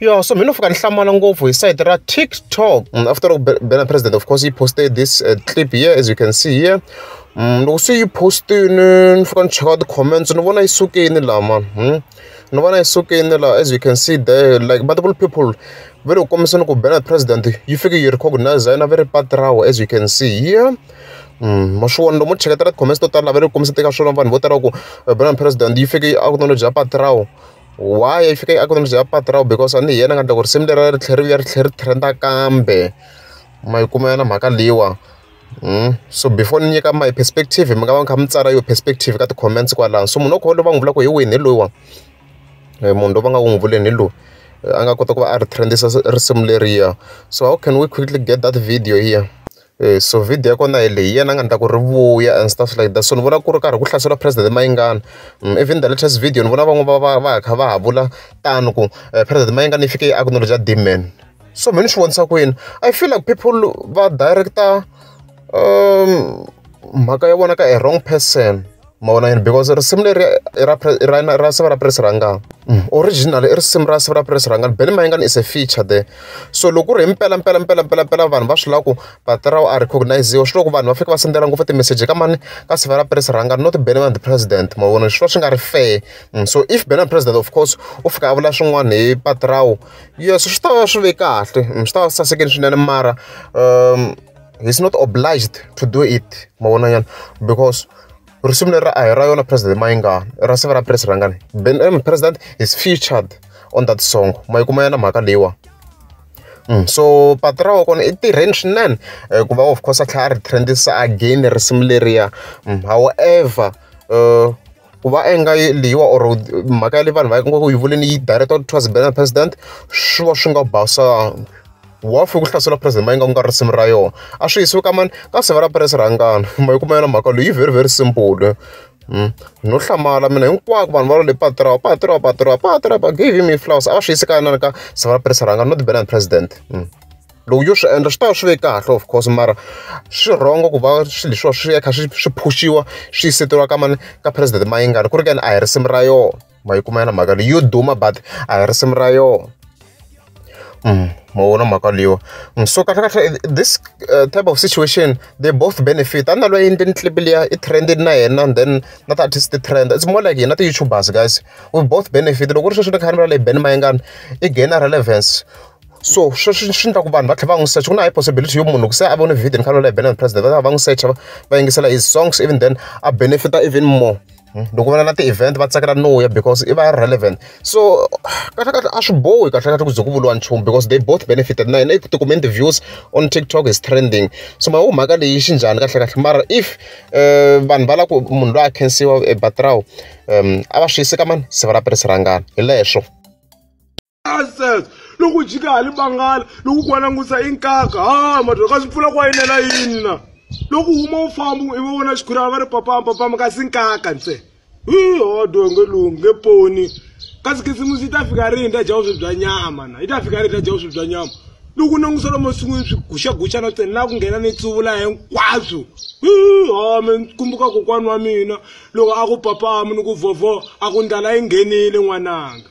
Yeah, so mina fika ni hlamala ngopfu hi site ra TikTok mm, after loko Bena President of course he posted this uh, clip here as you can see here mm, loko se yi postini ni fika ni cheka ti-comments ni vona yi sukini laha mani hmm? ni vona yi sukini laha as you can see there like multiple people ve loko kombisa ni ku Bena President yi fike yi recognize yena ve ri pati rawo as you can see here Mm, maswiwona lomu cheketela ti-comments to tala lava ri kombisa teka swona vanhu vo tala ku eh, Bena President yi fike yi acknowledge ya pati rawo Why yi fika yi economy ya patu ra wena because a ni hi yena a nga endla ku risimu leriya ri tlhela ri vuya ri tlhela ri trend-a kambe. Ma yi kuma yona mhaka leyiwani. So before ni nyika my perspective mi nga va mi kha mi tsala yona perspective ka ti-comments kwalano. So munhu wa kona loyi va n'wi vulaka hi wini hi loyiwani, munhu loyi va nga ku n'wi vuleni hi loyi. A nga kota ku va a ri trend-isa risimu leriya. So how can we quickly get that video here? so video ya kona hi leyi hi yena a nga ni ta ku ri vuya and stuff like that so ni vona ku ri karhi ku hlaseriwa president Mayingani even the latest video ni vona van'wana va va va kha va ha vula tano ku president Mayingani i fike i acknowledge demand so mehe ni swi vonisa ku yini I feel like people va director mhaka ya vona ka a wrong person. mavona yini because risimu leri ra siva ra press rangani mm. original i risimu ra siva ra press rangani bele mayingani is a feature there so loko ku ri hi mpela mpela mpela mpela mpela vanhu va swi lava ku batirawu a recogniziwa swi loko vanhu va fika va sendela ngopfu timeseji ka mani ka siva ra press rangani not bele man the president mavona swi va swi nga ri fair mm. so if bele man president of course u fika a vula swin'wana hi batirawu yes swi ta va swi ve kahle mm. swi ta va sasekeni swinene mara um he's not obliged to do it ma vona nyana because risimu leri a hi ra yona president ma yi nga ra siva ra president rangani ben m um, president is featured on that song ma yi kuma yena mhaka leyiwa Mm. so patu ra wa kona i tirheni swinene eh, ku va of course a tlhela a ri trendisa again risimu leriya mm. however uh, ku va inga leyiwa or mhaka ya leyi vanhu va ngo ku yi vuleni yi director towards banner president swi va swi nga basanga wa fika ku hlasela president mayinga ku nga risimu ra yona a swi yisiwi ka mani ka seve ra press rhangana ma yi kuma yona mhaka leyi very very simple Hmm. no hlamala mina hinkwako vanhu va lo le patirao patirao patirao patirao give me flowers a va swi yisi ka yinana ka sava presa rhanga not banana president hmm. loko yo swi endla swi ta va swi ve kahle of course mara swi wrong ku va swilo leswiwa swi ya kha swi swi phushiwa swi yiseriwa ka mani ka president Mayengani ku ri ka yini a hi risimu ra yona ma yi kuma yona mhaka leyi yo duma but a hi risimu ra yona ma vona mhaka leyiwa so kahle kahle this uh, type of situation they both benefit a na loyi a endleni clip liya i trend na yena and then na ti artist ti trend it's more like hina ti-youtubers guys we both benefit loko ku ri sweswi ni kha ni vula leyi ben mayengani i gainer relevance so swi swi swi endla ku vanhu va tlhela va n'wi secha ku na high possibility yo munhu loko se a vone video ni fanele na yi bela president va ta va n'wi secha va va yingisela his songs even then a benefita even more loko va na na ti-event va tsakela no ya because i va relevant so kahlekahle a swi bohi kahlekahle ku ze ku vuriwa nchumu because they both benefited na yena i tikume interviews on tiktok is trending so ma mhaka leyi xi njhani kahlekahle mara if vanhu va lava ku munhu loyi a khensiwa ebatrawu um a va swi yiseka mani se va la perisirangana hi leswo nonsense loko u jika hali bangala loko ku wanangusa i nkaka ha madholo ka swi pfula ku wayinela yini na loko u huma u famba i va vona xikhurana va ri papama papama kasi nkaka ntsena hi hodo nge lungi nge poni kasi khisimusi yi ta fika rini ta dya vuswi bya nyama na yi ta fika rini ta dya vuswi bya nyama loko nangusa lomu masin'wini swi guxaguxana ntsena laha ku nghena ni tsuvula hinkwaswo hi home kumbuka kokwana wa mina loko a ku papamu ni ku vhovho a ku ndlala yi nghenile n'wananga